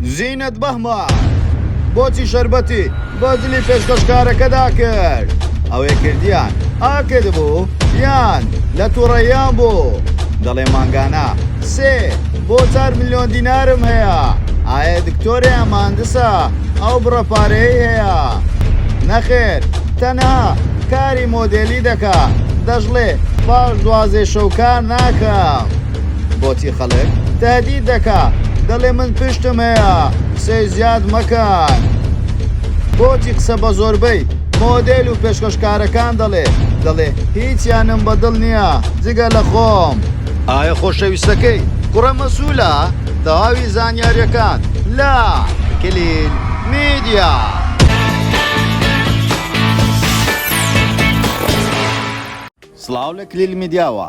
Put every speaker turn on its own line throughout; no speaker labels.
زینت بەهمان بۆچی شەربەتی بە جلی پێشکەشکارەکەدا کرد ئەوەی کردیان ئاکرد بوو یان لە تووڕەیان بوو دەڵێ مانگانە سێ بۆ چار میلیۆن دینارم هەیە ئایا دکتۆرێ ئەماندسە ئەو بڕە پارەی هەیە نەخێر تەنها کاری مۆدێلی دەکا دەشڵێ پاش دوازێ شەو کار ناکەم. بۆچی خەڵک تادی دەکا دەڵێ من پشتم هەیە قسەی زیاد مەکەن بۆچی قسە بە زۆربەی مۆدێل و پێشکەشکارەکان دەڵێ دەڵێ هیچیانم بەدڵ نییە جگە لە خۆم ئایا خۆشەویستەکەی کوڕە مەسوولە تەواوی زانیاریەکان لە کلیل میدیا. سڵاو لە کلیل میدیاوە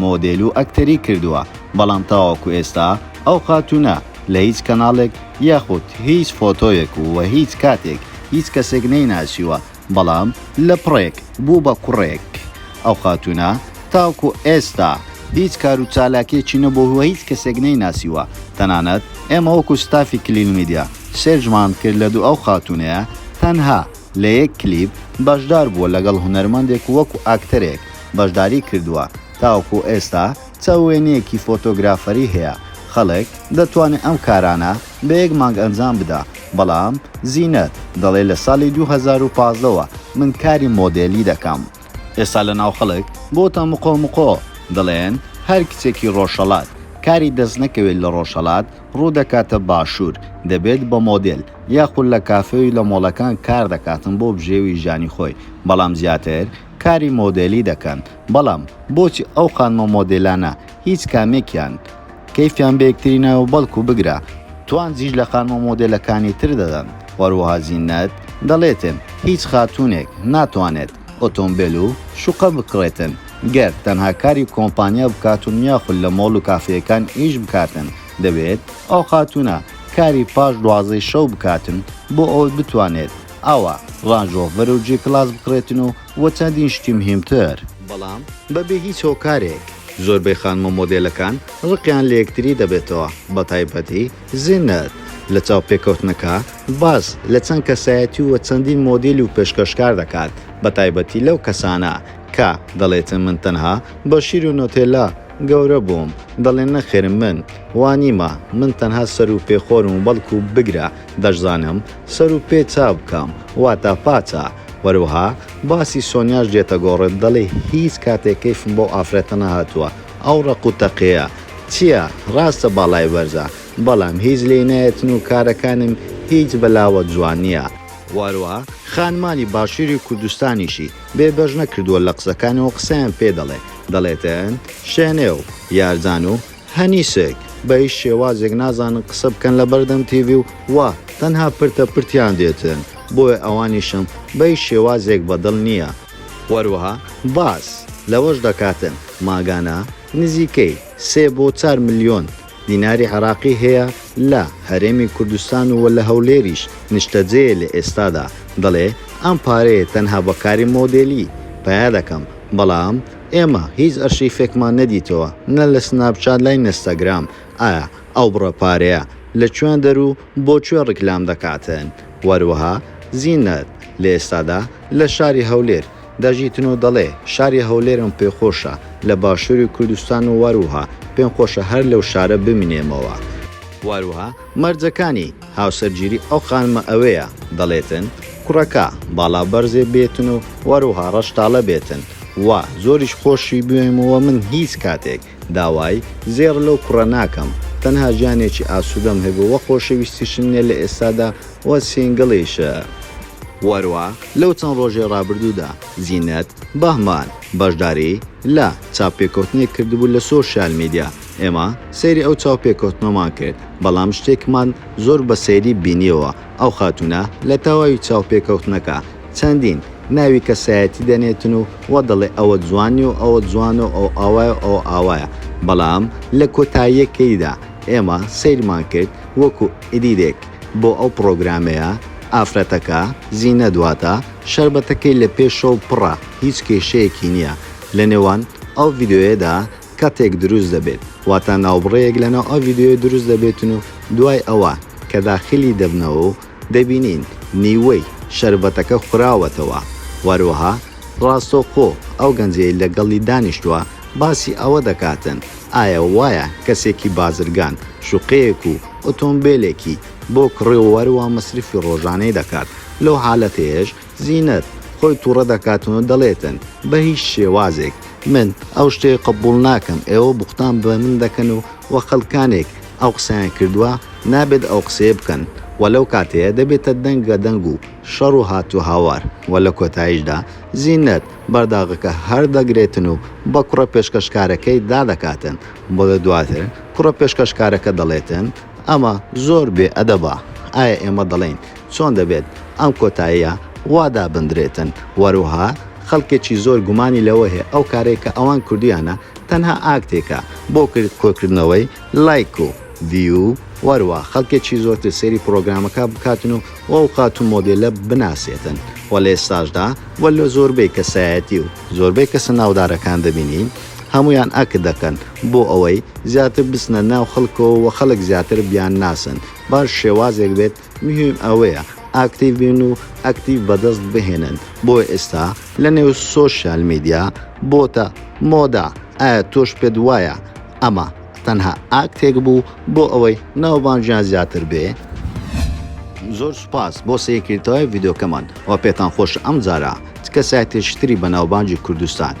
مۆدێل و ئەکتەری کردووە، بەڵام تاوەکو ئێستا ئەو خاتوونە لە هیچ کەناڵێک یاخود هیچ فۆتۆیەک و هیچ کاتێک هیچ کەسێک نەیناسیوە، بەڵام لە پڕێک بوو بە کوڕێک. ئەو خاتوونە تاوکو ئێستا هیچ کار و چالاکیەکی نەبووه و هیچ کەسێک نەیناسیوە، تەنانەت ئێمە وەکو ستافی کلیل میدیا سێرچمان کرد لە دوو ئەو خاتوونەیە تەنها، لە یەک کلیپ بەشدار بووە لەگەڵ هونەرمەندێک وەکو ئاکتەرێک بەشداری کردووە، تاوەکو ئێستا چە وێنەیەکی فۆتۆگرافەری هەیە، خەڵک دەتوانێ ئەم کارانە بە یەک مانگ ئەنجام بدا، بەڵام زینەت دەڵێ لە ساڵی دوو هەزار و پازدە وە من کاری مۆدێلی دەکەم، ئێستا لە ناو خەڵک بۆتە مقۆ مقۆ، دەڵێن هەر کچێکی ڕۆژهەڵات کاری دەست نەکەوێت لە ڕۆژهەڵات ڕوو دەکاتە باشوور دەبێت بە مۆدێل، یاخود لە کافێ و لە مۆڵەکان کار دەکاتن بۆ بژێوی ژانی خۆی بەڵام زیاتر کاری مۆدێلی دەکەن بەڵام بۆچی ئەو خانمە مۆدێلانە هیچ کامێکیان کەیفیان بە یەکتری نایەوە بەڵکو بگرە توانجیش لە خانمە مۆدێلەکانی تر دەدەن وەروەها زینەت دەڵێتن هیچ خاتونێک ناتوانێت ئۆتۆمبێل و شوقە بکڕێتن گەر تەنها کاری کۆمپانیا بکاتن یاخود لە مۆڵ و کافێیەکان ئیش بکاتن دەبێت ئەو خاتونە کاری پاش دوازدەی شەو بکاتن بۆ ئەوەی بتوانێت ئاوا ڕانج ڕۆڤەر و جی کلاس بکڕێتن و و چەندین شتی مهیمتر. بەڵام بەبێ هیچ هۆکارێک زۆربەی خانمە مۆدێلەکان ڕقیان لەیەکتری دەبێتەوە بەتایبەتی زینەت لە چاوپێکەوتنەکە باس لە چەند کەسایەتی و چەندین مۆدێلی و پێشکەشکار دەکات بەتایبەتی لەو کەسانە کە دەڵێتن من تەنها بە شیر و نۆتێلا گەورە بووم دەڵێن نەخێر من وا نیمە من تەنها سەرو پێ خۆرم و بەڵکو بگرە دەشزانم سەرو پێ چا بکەم واتا پاچە وەروەها باسی سۆنیاش دێتە گۆڕت دەڵێ هیچ کاتێ کەیفم بەو ئافرەتە نەهاتووە ئەو ڕەق و تەقەیە چیە ڕاستە باڵای بەرزە بەڵام هیچ لێی نایەتن و کارەکانم هیچ بەلاوە جوان نیە وەروەها خانمانی باشوری کوردستانیشی بێ بەش نەکردووە لە قسەکانیەوە قسەیان پێ دەڵێ دەڵێتن شێنێ و یارجان و هەنیشک بە هیچ شێوازێک نازانن قسە بکەن لە بەردەم تیڤی و وا تەنها پرتە پرتیان دێتن بۆیە ئەوانیشم بە هیچ شێوازێک بە دڵ نییە. هەروەها باس لەوەش دەکاتن ماگانە نزیکەی سێ بۆ چار ملیۆن دیناری عێراقی هەیە لە هەرێمی کوردستان و لە هەولێریش نیشتەجێیە لە ئێستادا، دەڵێ ئەم پارەیە تەنها بە کاری مۆدێلی پەیا دەکەم، بەڵام ئێمە هیچ ئەرشیفێکمان نەدیتەوە نە لە سناپچات لای نستاگرام، ئایا ئەو بڕە پارەیە لە کوێن دەر و بۆ کوێ ڕیکلام دەکاتن؟ وەروەها زینەت لە ئێستادا لە شاری هەولێر، دەژیتن و دەڵێ، شاری هەولێرم پێ خۆشە، لە باشووری کوردستان و واروها پێم خۆشە هەر لەو شارە بمینێمەوە. واروها مەرجەکانی هاوسەرگیری ئەو خانمە ئەوەیە، دەڵێتن، کوڕەکە باڵا بەرزێ بێتن و واروها ڕەشتاڵە بێتن و زۆریش خۆشی بوێم و من هیچ کاتێک داوای زێڕ لەو کوڕە ناکەم تەنها ژیانێکی ئاسودەم هەبێ وە خۆشەویستیشم نیە لە ئێستادا وە سینگڵیشم. وەرە لەو چەند ڕۆژەی ڕابردوودا زینەت بەهمان بەشداری لە چاوپێکەوتنێک کردبوو لە سۆشیال میدیا ئێمە سەیری ئەو چاوپێکەوتنەمان کرد بەڵام شتێکمان زۆر بە سەیری بینیەوە ئەو خاتوونە لە تەواوی چاوپێکەوتنەکە چەندین ناوی کەسایەتی دەنێتن و وا دەڵێ ئەوە جوان نیە و ئەوە جوانە و ئەو ئاوایە و ئەوە ئاوایە بەڵام لە کۆتاییەکەیدا ئێمە سەیرمان کرد وەکو ئیدیتێک بۆ ئەو پڕۆگرامەیە ئافرەتەکە زینەت واتە شەربەتەکەی لە پێشەوە پڕە هیچ کێشەیەکی نیە لە نێوان ئەو ڤیدیۆیەدا کاتێک دروست دەبێت واتا ناوبڕێیەک لەناو ئەو ڤیدیۆیە دروست دەبێتن و دوای ئەوە کە داخلی دەبنەوە و دەبینین نیوەی شەربەتەکە خوراوەتەوە وەروەها ڕاستەوخۆ ئەو گەنجەی لەگەڵی دانیشتوە باسی ئەوە دەکاتن ئایا وایە کەسێکی بازرگان شوقەیەک و ئۆتۆمبێلێکی بۆ کڕیوە وەروەها مەسرفی ڕۆژانەی دەکات لەو حالەتەیەش زینت خۆی توڕە دەکاتن و دەڵێتن بە هیچ شێوازێک من ئەو شتەی قبوڵ ناکەم ئێوە بوختان بە من دەکەن و وە خەلکانێک ئەو قسەیان کردوە نابێت ئەو قسەیە بکەن وە لەو کاتەیە دەبێتە دەنگە دەنگ و شەڕ و هات و هاوار وە لە کۆتایشدا زینت بەرداغەکە هەر دەگرێتن و بە کوڕە پێشکەشکارەکەی دا دەکاتن وە لە دواتر کوڕە پێشکەشکارەکە دەڵێتن ئەمە زۆر بێ ئەدەبە ئایا ئێمە دەڵێین چۆن دەبێت ئەم کۆتاییە وا دابندرێتن وەروەها خەڵکێکی زۆر گومانی لەوە هەیە ئەو کارەی کە ئەوان کردویانە تەنها ئاکتێکە بۆ کۆکردنەوەی لایک و ڤیو وەروا خەڵکێکی زۆرتر سەیری پڕۆگرامەکە بکاتن و ئەو خاتوو مۆدێلە بناسێتن وە لە ئێستاشدا وە لە زۆربەی کەسایەتی و زۆربەی کەسە ناودارەکان دەبینین هەموویان ئەکت دەکەن بۆ ئەوەی زیاتر بچنە ناو خەڵکەوە و خەڵک زیاتر بیانناسن بە هەر شێوازێک بێت، مهم ئەوەیە ئاکتیڤ بین و ئەکتیڤ بەدەست بهێنن، بۆ ئێستا لە نێو سۆشیال میدیا بۆتە مۆدە، ئایا تۆش پێت وایە ئەمە تەنها ئاکتێک بوو بۆ ئەوەی ناوبانگیان زیاتر بێ؟ زۆر سوپاس بۆ سەیرکردتەوەی ڤیدۆکەمان وە پێتان خۆشە ئەمجارە چ کەسایەتێکی تری بەناوبانگی کوردستان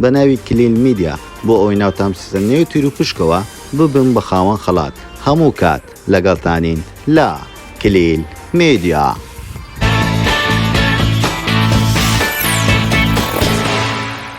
بە ناوی کلیل میدیا بۆ ئەوەی ناوتان بچێتە نێو تیروپشکەوە ببن بە خاوەن خەڵات هەموو کات لەگەڵتانین لە کلیل میدیا.